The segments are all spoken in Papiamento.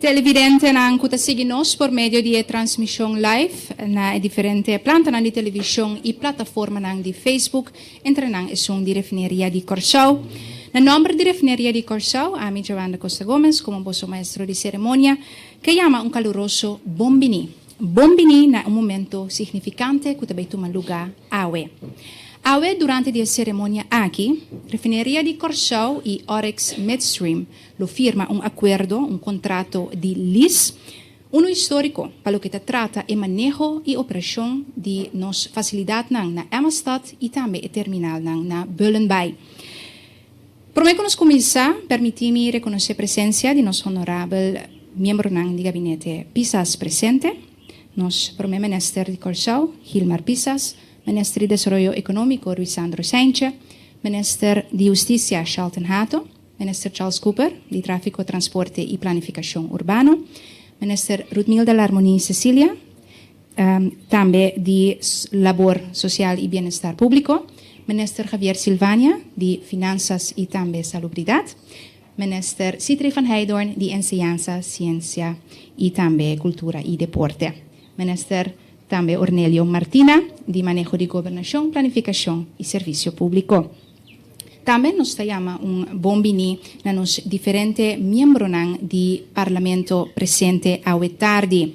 Televidentenan cu ta sigui nos por medio di e transmision live na e diferente plantanan di television y plataformanan di Facebook, entre nan esun di Refineria di Corcao. Na nomber di Refineria di Corcao, ami Joan da Costa Gomez como boso maestro di ceremonia, ke yama un caluroso bon bini. Bon bini na un momento signifikante ku ta bai tuma lugá awe. Awe durante di e seremonia aki, Refineria di Kòrsou i Oryx Midstream lo firma un akuerdo, un kontrato di lis, unu históriko pa loke ta trata e maneho i operashon di nos fasilidatnan na Emma-Stad i tambe e terminalnan na Bullenbaai. Prome ku nos kuminsá, permití mi rekonosé presensia di nos honorabel miembronan di Gabinete Pisas presente, nos Prome Minister di Kòrsou, Hilmar Pisas, Minister di Desaroyo Ekonómiko, Ruisandro Saintje, Minister di Hustisia, Shelton Hato, Minister Charles Cooper, di Tráfiko, Transporte i Planifikashon Urbano, Minister Rutmilda Larmonie Cecilia, Tambe di Labor Sosial i Bienestar Públiko, Minister Javier Silvania di Finansas i tambe Salubridat, Minister Sietry van Heijdorn di Enseñansa, Siensia i tambe Kultura i Deporte, Minister tambe Ornelio Martina di Maneho di Gobernashon, Planifikashon i Servisio Públiko. Tambe nos ta yama un bon biní na nos diferente miembronan di Parlamento presente awe tardi.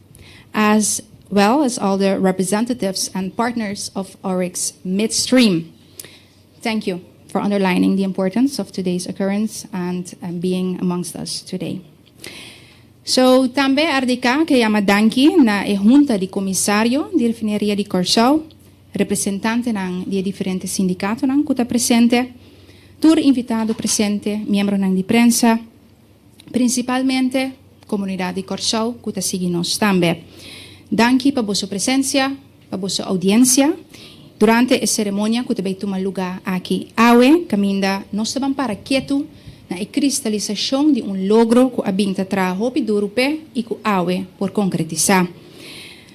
as well as all the representatives and partners of Oryx Midstream. Thank you for underlining the importance of today's occurrence and being amongst us today. Tambe RDK ke yama danki na e hunta di komisario di Refineria di Kòrsou, representantenan di e diferente sindikatonan ku ta presente, tur invitado presente, miembronan di prensa, Principalmente comunidad di Corsow cu ta sigui nos tambe. Danki pa boso presencia, pa boso audiencia durante e ceremonia cu ta bay tuma luga aki awe, caminda nos ta ban para ketu na e cristalisacion di un logro cu a bin ta traha hopi duru p'e y cu awe por concretisa.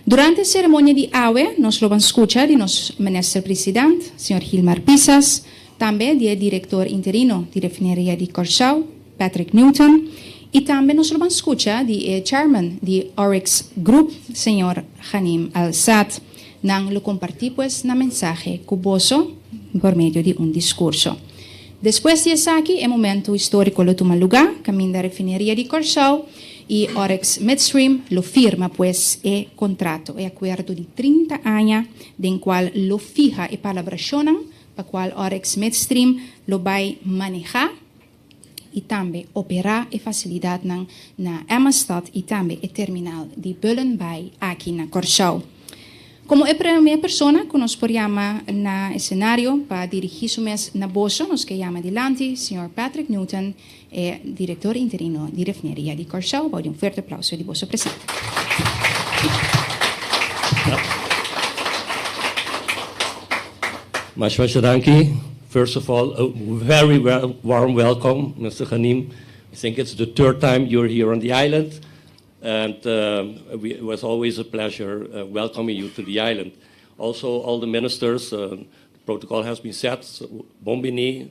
Durante e ceremonia di awe nos lo ban scucha di nos Minister President, Sr. Hilmar Pisas, tambe di e direktor interino di refineria di Kòrsou, Patrick Newton, i tambe nos lo ban skucha di e chairman di Oryx Group, señor Ghanim Al-Saad. Nan lo kompartí pues nan mensahe ku boso por medio di un diskurso. Despues di esaki e momentu históriko lo tuma lugá kaminda refineria di Kòrsou i Oryx Midstream lo firma pues e kontrato, e akuerdo di trinta aña den kual lo fiha e palabrashonnan pa cual Oryx Midstream lo bay maneha y tambe opera e facilidadnan na Emma-Stad y tambe e terminal di Bullenbaai aki na Corsow. Como e prome persona cu nos por yama na escenario pa dirigi su mes na boso nos ke yama dilanti Señor Patrick Newton, E Director Interino di Refineria di Kòrsou bou di un fuerte aplauso di boso presente. Masha masha danki. First of all, a very warm welcome Mister Ghanim. I think it's the third time you're here on the island and it was always a pleasure welcoming you to the island. Also all the ministers, the protocol has been set. Bon bini.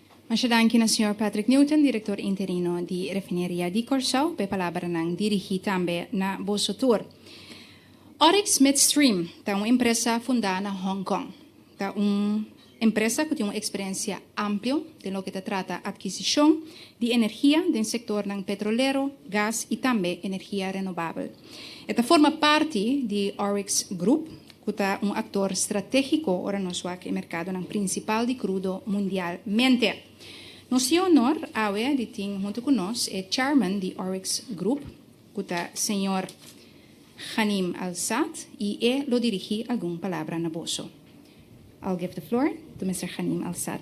Masha danki na señor Patrick Newton, Director Interino di Refineria di Corsou, pa e palabranan dirigi tambe na boso tur. Oryx Midstream ta un empresa funda na Hong Kong. Ta un empresa cu tin un experiencia amplio den loke ta trata adquisicion di energia den sectornan petrolero, gas y tambe energia renovabel. E ta forma parti di Oryx Groep. cu ta un actor strategico ora nos wak e mercadonan principal di crudo mundialmente. Nos tin e honor awe di tin hunto cu nos e Chairman di Oryx Group, cu ta Señor Ghanim Al-Saad y e lo dirigi algun palabra na boso. I'll give the floor to Mister Ghanim Al-Saad.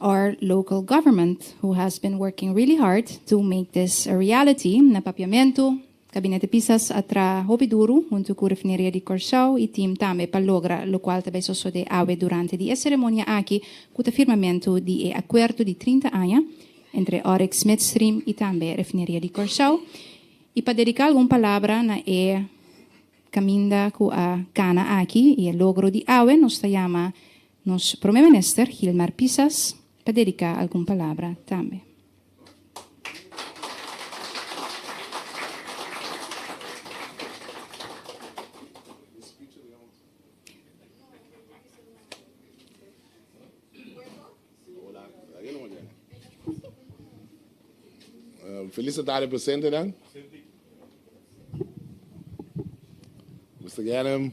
our local government who has been working really hard to make this a reality na Papiamentu, Gabinete Pisas a traha hopi duru huntu cu Refineria di Corcao y team tambe pa logra locual ta bay sosode awe durante di e ceremonia aki cu ta firmamentu di e acuerdo di trinta aña entre Oryx Midstream y tambe Refineria di Corcao y pa dedica algun palabra na e caminda cu a cana aki y e logro di awe nos ta yama Nos Prome Minister Gilmar Pisas pa dedica algun palabra tambe. Feliz tarde presentenan. Mister Gernam.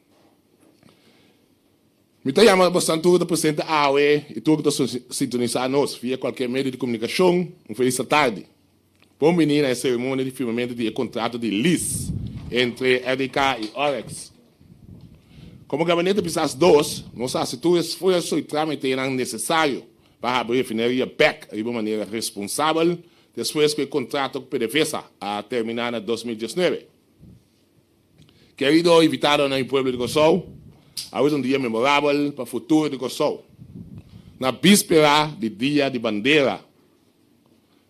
Mi ta yama bosan tur ku ta presente awe i tur ku ta sintonisá nos via kualker medio di komunikashon un felis ta tardi. Bon bini na e seremonia di firmamentu di e kontratu di lis entre RDK i Orex. Komo Gabinete Pisas Dos, nos a hasi tur esfuerso i trámitenan nesesario pa habri refineria bèk riba manera responsabel despues ku e kontratu ku PDVSA a terminá na dos mil diesnuebe. Kerido invitadonan i pueblo di Kòrsou, awor es un dia memorabel pa futuro di Kòrsou. Na bispera di Dia di Bandera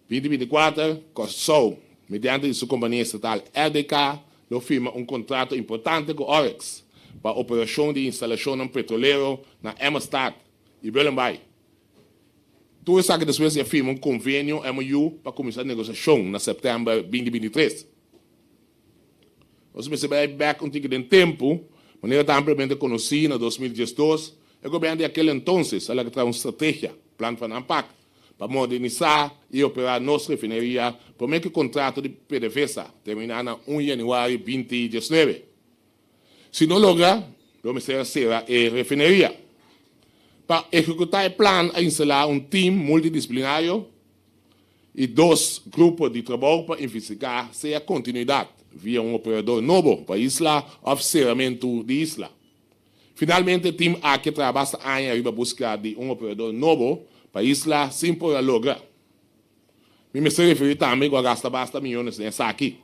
binti binti kuater, Kòrsou, mediante di su kompania estatal RDK, lo firma un kontrato importante ku Orex pa operashon di instalashonnan petrolero na Emmerstad i Bullenbaai. Tur esaki despues di a firma un konvenio, MOU, pa kuminsá negosiashon na sèptèmber binti binti tres. Nos mester bay bek un tiki den tempu, manera ta ampliamente conoci na dos mil diesdos, e gobierno di aquel entonces a laga traha un strategia, Plan van Aanpak, pa modernisá y operá nos refineria prome cu contrato di PDVSA terminá na un januari binti diesnuebe. Si no logra, lo mester a cera e refineria. Pa ehecuta e plan a instalá un team multidisciplinario E dos grupo di trabou pa investigá sea kontinuidat via un operador nobo pa isla òf seramentu di isla. Finalmente tim aki a traha basta aña riba buska di un operador nobo pa isla sin por a logra. Mi mester referí tambe ku a gasta basta miyones den esaki.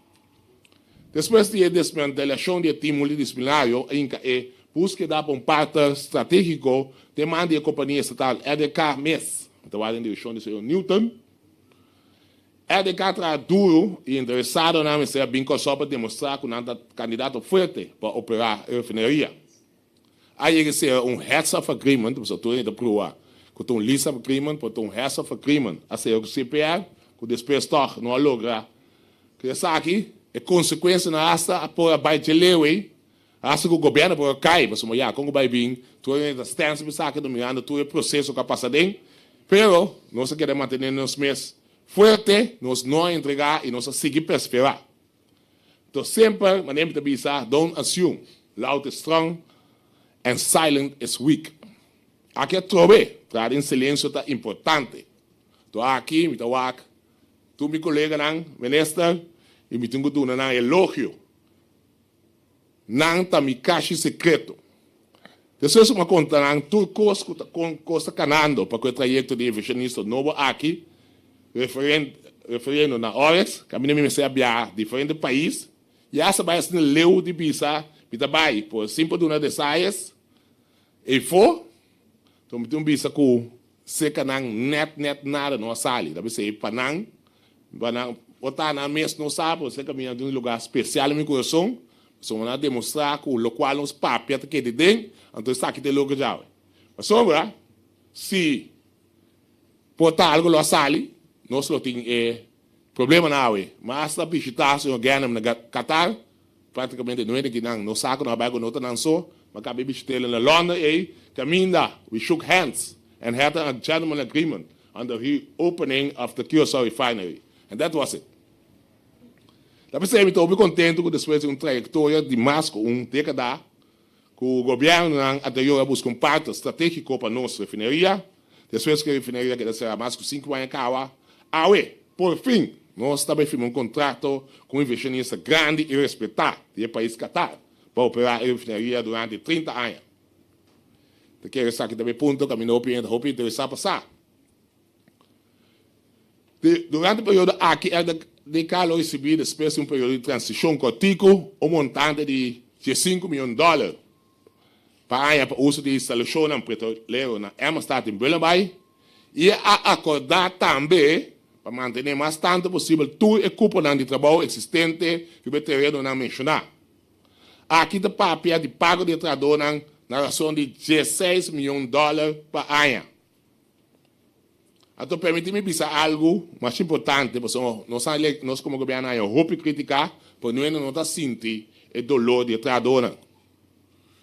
Despues di e desmantelacion di e tim multidisciplinario, Inca e pus keda pa un partner strategico te man di e compania estatal EDK mes, ta wak den direccion di señor Newton. EDK traha duro y interesadonan mester a bin Consou pa demostra cu nan ta candidato fuerte pa opera e refineria. Aya ke sea un heads of agreement, boso tur ta prua ku ta un lease of agreement, por ta un heads of agreement a sea ku CPR, ku despues tòg no a logra ku esaki, e konsekuensianan hasta a por a bai dje leu ei, hasta ku gobièrnu a por a kai, pasobra maya kon ku bai bin, tur e ta stands op esaki, ta mirando tur e proseso ku a pasa den, pero nos a keda mantené nos mes fuerte, nos no a entregá i nos a sigui perseverá. To semper manera mi ta bisa, don't assume, loud is strong and silent is weak. Aki atrobe traha den silensio ta importante. To aki mi ta wak tur mi coleganan minister y mi tin cu duna nan elogio. Nan ta mi kashi sekreto. Despues ku mi a konta nan tur kos ku ta kon kos ta kanando pa ku e trayekto di e Visionista Nobo aki, referiendo na ores ku mi no mester a biaha diferente pais i hasta bai asina leu di bisa, mi ta bai por sin por duna desayes, ei fo, to mi tin un bisa ku Secanan net net nada no a sali, ta bisey pa nan, pa nan ota nan mes no sa por esey caminda den un lugar special den mi corazon, pasobra nan a demostra cu locual nos papia ta kende den, anto esaki ta e loke djawe. Pasobra si por ta algo lo a sali, nos lo tin e. Problema na awe, ma asta bishitá señor Ganem na Qatar, práktikamente no e den kinan, no sa ku no a bai ku no ta nan so, ma kapé bishit'el na London ei, kaminda we shook hands and had a gentleman agreement on the reopening of the Curaçao refinery and that was it. Ta p'esei mi ta hopi kontentu ku despues di un trayektoria di mas ku un dékada, ku gobièrnunan a ta yora buska un partner stratégiko pa nos refineria, despues ku e refineria keda será mas ku sinku aña kaba. Awe, por fin, nos ta bai firma un kontrato ku un invershonista grandi i respetá di e pais Qatar pa operá e refineria durante trinta aña. Ta kere esaki ta bo e punto ku a mi no opinion ta hopi interesá pa sa. Durante periodo aki el de ka lo recibi despues di un periodo di transicion cortico un montante di diescinco mion dollar pa haña pa uso di instalacionnan petrolero na Emmerstad den Bullenbaai y e a acorda tambe pa mantene mas tanto posibel tur e cuponan di trabao existente riba e terenonan menciona. Aki ta papia di pago di e trahadornan na rason di diesseis mion dollar pa haña. Anto permiti mi bisa algu mas importante, pasobra nos a elect, nos komo gobièrnu a haña hopi kritika, pero nuhende no ta sinti e doló di e trahadónan.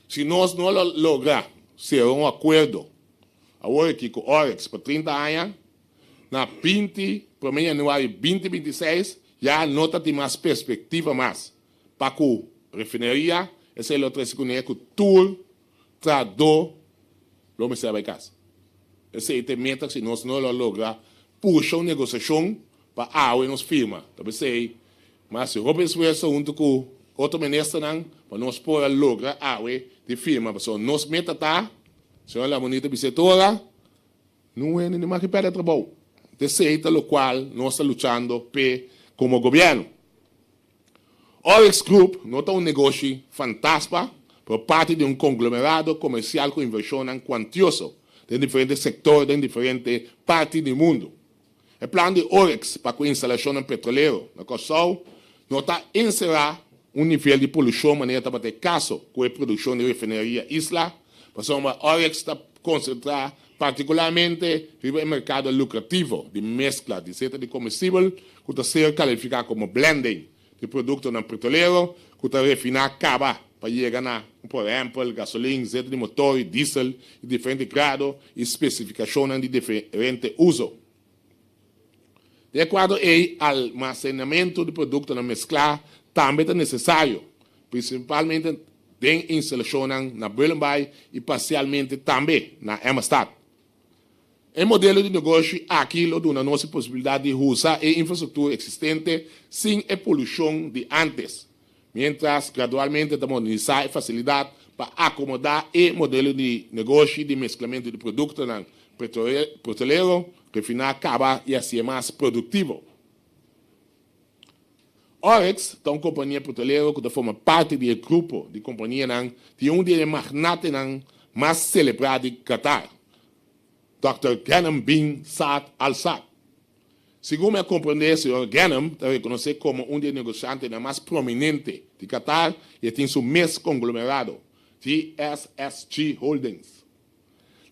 Si nos no lo logra sera un akuerdo awor aki ku Oryx pa trinta aña, na binti promé yanuario binti binti seis ya no ta tin mas perspektiva mas pa ku refineria esei lo trese kuné ku tur trado lo mester bai casa. Esey ta e meta si nos no lo logra pusha un negociacion pa awe nos firma ta ba esey, ma hasi hopi esfuerso hunto cu otro ministernan pa nos por a logra awe di firma pasobra nos meta ta, Señor Lamoni ta bis'e ora, no wende ni maki perde trabou. Esey ta locual nos ta luchando p'e como gobierno. Oryx Group no ta un negoshi fantasma pero e parti di un konglomerado komersial ku invershonnan kuantioso den diferente sektor den diferente parti di mundu. E plan di Oryx pa ku instalashonnan petrolero na Kòrsou no ta enserá un nivel di polushon manera tabata e kaso ku e produkshon di refineria Isla pasobra Oryx ta konsentrá particularmente riba e mercado lucrativo di mezcla di seta di comestibel cu ta ser califica como blending di productonan pretolero cu ta refina caba pa yega na, por ehempel, gasolin, seta di motor y diesel di diferente grado y specificacionnan di diferente uzo. Di akuerdo ei, almasenamentu di produktonan mesklá tambe ta nesesario, prinsipalmente den instalashonnan na Bullenbaai i parsialmente tambe na Emmerstad. E modelo di negoshi aki lo duna nos e posibilidat di usa e infrastruktur eksistente sin e polushon di ántes, miéntras gradualmente ta modernisá e fasilidat pa akomodá e modelo di negoshi di mesklamentu di produktonan petrolero refiná kaba i así e mas produktivo. Oryx ta un kompania petrolero ku ta forma parti di e grupo di kompanianan di un di e magnatenan mas selebrá di Qatar, Dòkter Ghanem bin Saad Al Saad, Segun mi a komprendé, señor Ghanem ta rekonosé komo un di e negoshantenan mas prominente di Qatar i e tin su mes konglomerado, GSSG Holdings.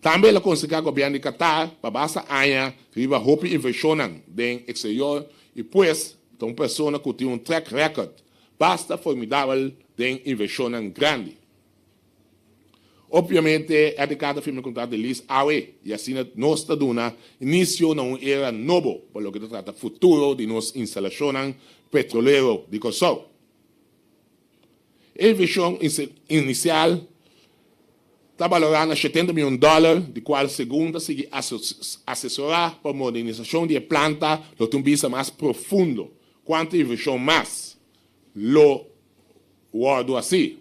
Tambe el a konseká gobièrnu di Qatar pa basa aña riba hopi invershonnan den eksterior i pues ta un persona ku tin un track record basta formidabel den invershonnan grandi. Obviamente e de kada firma e contrato de lease awe y asina nos ta duna inicio na un era nobo pa loke ta trata futuro di nos instalacionnan petrolero di Kòrsou. E inversion inicial ta balora na shetenta mion dollar di cual segun ta sigui asesora pa modernisacion di e planta lo tin bista mas profundo cuantu inversion mas lo wordo haci.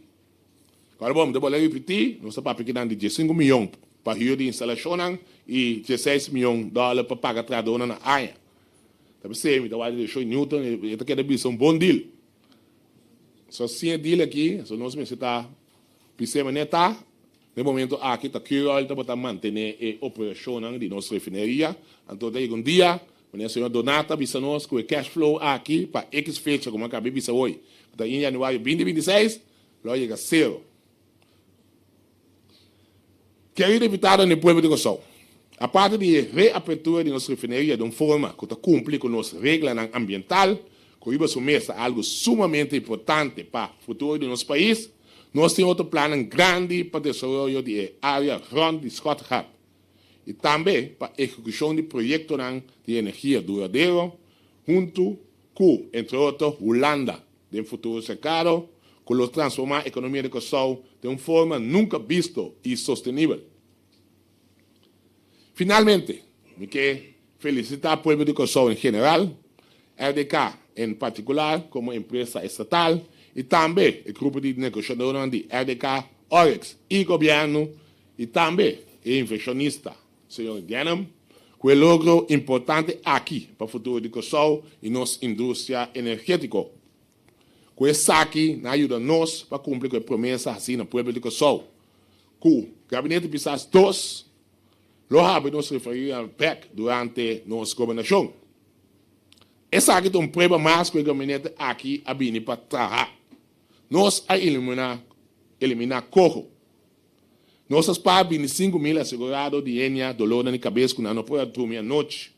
Pero bon, mi ta bolea ripití, nos ta papia kinan di diesinku mion pa hür di instalashonnan i dieseis mion dòler pa paga trahadónan na aña. Ta p'esei mi ta wak di Deschaux i Newton, e ta keda bisa un bon dil. So, sin e dil akí, so nos mester ta bisa e manera ta. Na e momentu aki ta cure oil ta botá mantené e operashonnan di nos refineria, anto ta yega un dia Mania Señor Donat ta bisa nos ku e cash flow aki pa ekiz fecha komo a kab'é bisa hoy ku ta un yanüario binti binti seis lo yega sero. Kerido diputadonan di pueblo di Kòrsou, aparte di e reapertura di nos refineria den un forma ku ta kumpli ku nos reglanan ambiental, Kohiba su mes ta algu sumamente importante pa futuro di nos pais. Nos tin otro plannan grandi pa desaroyo di e area rond di Schotgat y tambe pa ehecucion di proyectonan di energia duradero hunto cu, entre otro, Hulanda den futuro cercado, cu lo transforma economia di Curaçao den un forma nunca bisto y sostenibel. Finalmente, mi ke felisitá pueblo di Kòrsou en general, RDK en partikular komo empresa estatal i tambe e grupo di negoshadonan di RDK, Oryx i Gobièrnu i tambe e invershonista señor Gennum ku e logro importante aki pa futuro di Kòrsou i nos industria energétiko. Ku esaki nan a yuda nos pa kumpli ku e promesa hasi na pueblo di Kòrsou. Ku Gabinete Pisas dos lo habri nos referí al pek durante nos gobernashon. Esaki ta un prueba mas ku e gabinete aki a bini pa traha. Nos a eliminá eliminá koho. Nos a spara binti sinku mil asegurado di henia dolornan di kabes ku nan no por a drumi anochi.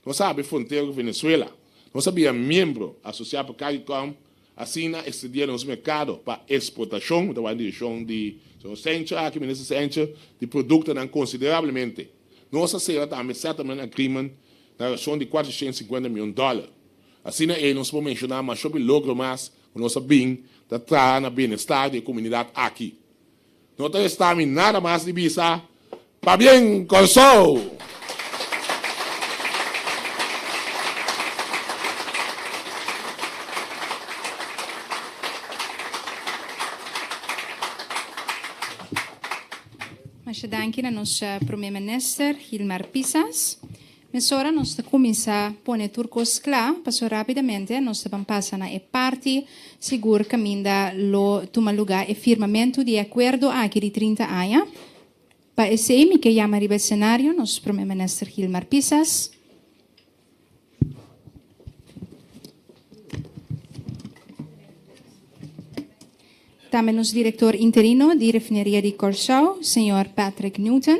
Nos a abi frontera ku Venezuela. Nos a bia miembro asosia pa Caricom, asina extendiendo nos mercado pa exportacion. Mi ta wak den direccion di Señor Sencha aki, Minister Sencha, di productonan considerablemente. Nos a sera tambe settlement agreement na racion di cuatro shicienta y cincuenta mion dollar. Asina ei nos por menciona mashopi logro mas ku nos a bin ta traha na bienestar di e comunidad aki. No ta resta mi nada mas di bisa, Pabien Kòrsou! Masha danki na nos Prome Minister Hilmar Pisas. Mesora nos ta kuminsá pone tur kos kla, pasobra rápidamente nos ta ban pasa na e parti sigur kaminda lo tuma lugá e firmamentu di e akuerdo aki di trinta aña. Pa esei mi ke yama riba e senario nos Prome Minister Gilmar Pisas. Tambe nos Direktor Interino di Refineria di Kòrsou, señor Patrick Newton.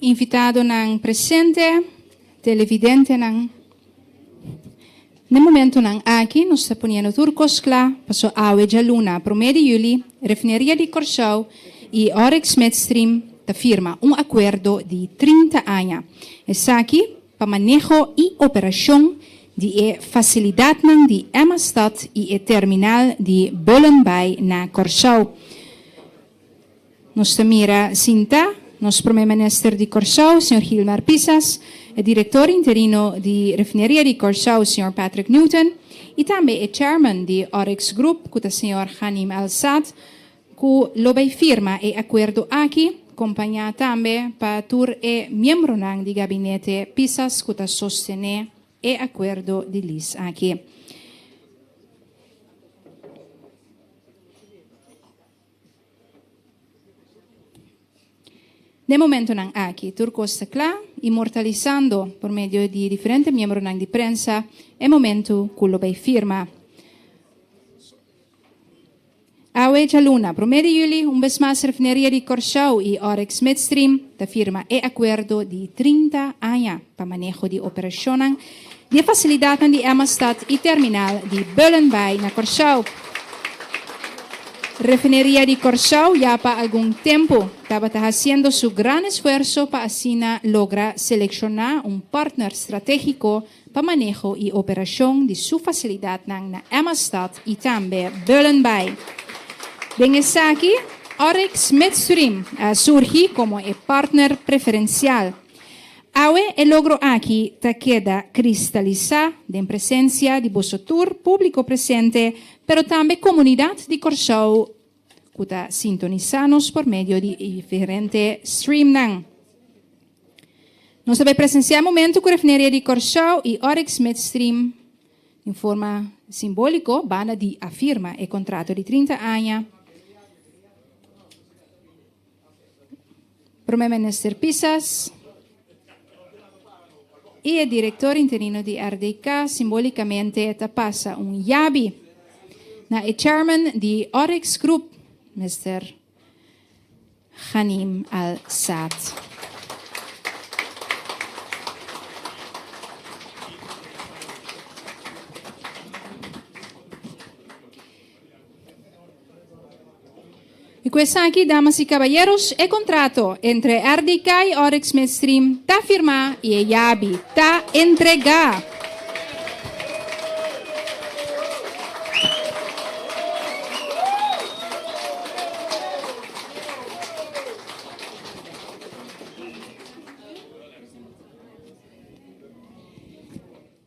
Invitadonan presente, televidentenan. Den momentonan aki nos ta poniendo tur cos cla, paso awe djaluna prome di juli Refineria di Corsou y Oryx Midstream ta firma un acuerdo di trinta aña, esaki pa maneho y operacion di e facilidadnan di Emmastad y e terminal di Bullenbaai na Corsou. Nos ta mira sintá nos Prome Minister di Kòrsou, señor Gilmar Pisas, e Direktor Interino di Refineria di Kòrsou, señor Patrick Newton, i tambe e Chairman di Oryx Group, ku ta señor Ghanim Al Saad, ku lo bai firma e akuerdo aki, kompañá tambe pa tur e miembronan di gabinete Pisas ku ta sostené e akuerdo di lease aki. Den momentonan aki tur kos ta kla, inmortalisando por medio di diferente miembronan di prensa e momentu ku lo bay firma. Awe djaluna, promé di juli, un bes mas Refineria di Kòrsou i Oryx Midstream ta firma e akuerdo di trinta aña pa maneho di operashonnan, di e fasilidatnan di Emma Stad i terminal di Bullenbaai na Kòrsou. Refineria di Kòrsou ya pa algun tempu tabata hasiendo su gran esfuerso pa asina logra selekshona un partner stratégiko pa maneho i operashon di su fasilidatnan na Emma Stad i tambe Bullenbaai. Den esaki, Oryx Midstream a surgi komo e partner preferensial. Awe e logro aki ta keda kristalisá den presensia di boso tur, públiko presente, pero tambe komunidat di Kòrsou ku ta sintonisá nos por medio di e diferente streamnan. Nos a bai presensiá Momentu ku Refneria di Kòrsou i Oryx Midstream den forma simbóliko banda di a firma e kontrato di trinta aña. Prome Minister Pisas i e Direktor Interino di RDK simbólikamente ta pasa un yabi na e Chairman di Oryx Groep, Mister Ghanim Al Saad. I ku esaki, damas i kabayeros, e kontrato entre RDK i Oryx Midstream ta firmá i e yabi ta entregá.